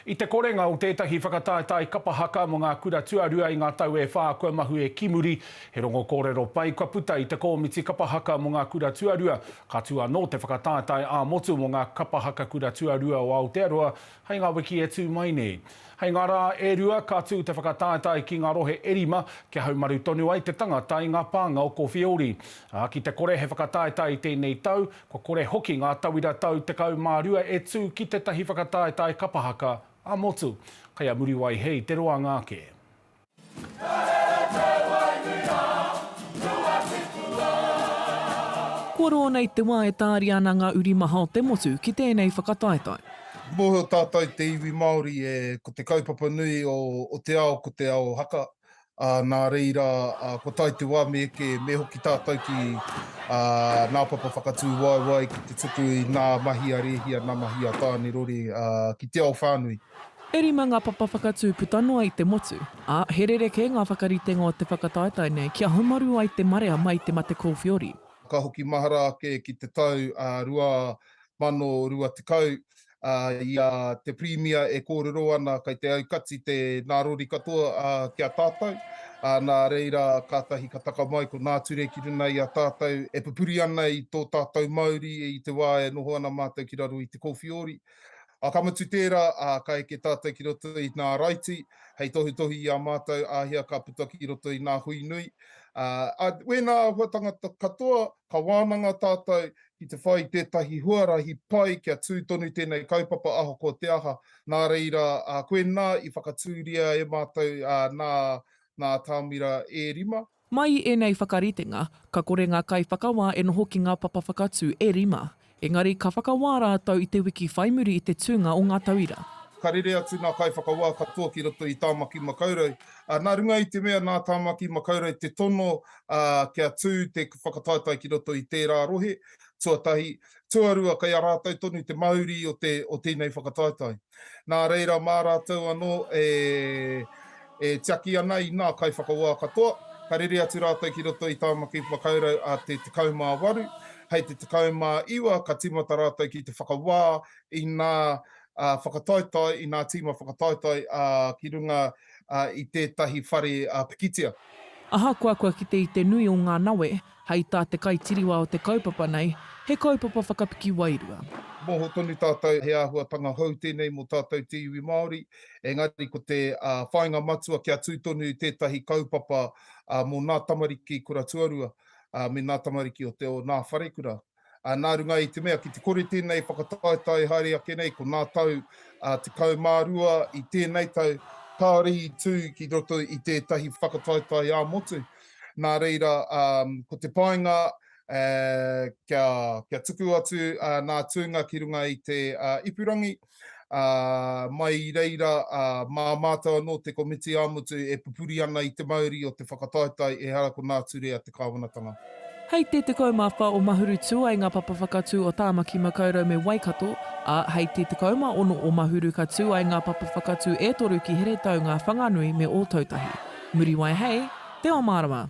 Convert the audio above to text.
I te korenga o tētahi whakataetae kapa haka mō ngā kura tuarua i ngā tau e whā kua mahue ki muri, he rongo kōrero pai kua puta i te kōmiti kapa haka mō ngā kura tuarua, ka tū anō te whakataetae ā-motu mō ngā kapa haka kura tuarua o Aotearoa hei ngā wiki e tū mai nei. Hei ngā rā e rua, ka tū te whakataetae ki ngā rohe e rima kia haumaru tonu ai te tangata i ngā pānga o Kōwhiori. Ā, ki te kore he whakataetae i tēnei tau, Kua kore hoki ngā tauira tau 12 e tū ki tētahi whakataetae kapa haka ā-motu. Kei a Muriwai he i te roanga ake. Kua roa nei te wā e tāria ana ngā uri maha o te motu ki tēnei whakataetae. Mōhio tātou te iwi Māori e, ko te kaupapa nui o te ao ko te ao haka, ā, nā reira, ā, kua tae te wā me eke, me hoki tātou ki, ā, nā Papa Whakatūwaewae ki te tuku i nā mahi a Rēhia, nā mahi a Tānerore, ā, ki te ao whānui. E rima ngā papa whakatū puta noa i te motu, ā, he rerekē ngā whakaritenga o te whakataetae nei kia haumaru ai te marea mai te mate kōwhiori. Ka hoki mahara ake ki te tau, ā, 2020, i a te Pirimia e kōrero ana kei te aukati te nārori katoa ki a tātou, nā reira kātahi ka taka mai ko Nā Ture ki runga i a tātou e pupuri ana i tō tātou mauri i te wā e noho ana mātou ki raro i te kōwhiori. Ka mutu tērā, ka eke tātou ki roto i Nā Raiti hei tohutohu i a mātou āhea ka puta ki roto i Nā Hui Nui. Wēnā āhua tangata katoa, ka wānanga tātou ki te whai i tētahi huarahi pai kia tū tonu tēnei kaupapa ahakoa te aha, nā reira koinā i whakatūria e mātou nā nā atamira e rima. Mai i ēnei whakaritenga, ka kore ngā kaiwhakawā e noho ki ngā papa whakatū e rima. Engari ka whakawā rātou i te wiki whai muri i te tūnga o ngā tauira. Ka rere atu ngā kaiwhakawā katoa ki roto i Tāmaki Makaurau, nā runga i te mea nā Tāmaki Makaurau te tono ā, kia tū te whakataetae ki roto i tērā rohe, tuatahi. Tuarua, kei a rātou tonu te mauri o tēnei whakataetae. Nā reira, mā rātou anō e tiaki ana i ngā kaiwhakawā katoa, ka rere atu rātou ki roto i Tāmaki Makaurau a te 18, hei te 19 ka tīmata rātou ki te whakawā i ngā whakataetae, i ngā tīma whakataetae ki runga i tētahi whare pikitia. Ahakoa kua kite i te nui o ngā nawe, hei tā te kaitiriwā o te kaupapa nei, he kaupapa whakapiki wairua. Moho tonu tātou he āhuatanga hou tēnei mō tātou te iwi Māori, engari ko te whāinga matua kia tū tonu i tētahi kaupapa mō nā tamariki kura tuarua me nā tamariki o nā wharekura. Ā, nā runga i te mea ki te kore tēnei whakataetae haere ake nei, ko nā tau ā tekau mā rua i tēnei tau, kāore i tū ki roto i tētahi whakataetae ā-motu. Nā reira, ā, ko te painga, ā, kia, kia tuku atu, ā, nā Tūnga ki runga i te, ā, ipurangi. Mai i reira, mā mātou anō te komiti ā-motu e pupuri ana i te mauri o te whakataetae ehara ko Nā Ture a te Kāwanatanga. Hei te 14 o Mahurutū ai ngā papa whakatū o Tāmaki Makaurau me Waikato, ā, hei te 16 o Mahuru ka tū ai ngā papa whakatū e toru ki Heretaunga, Whanganui me Ōtautahi. Muriwai hei Te Omārama!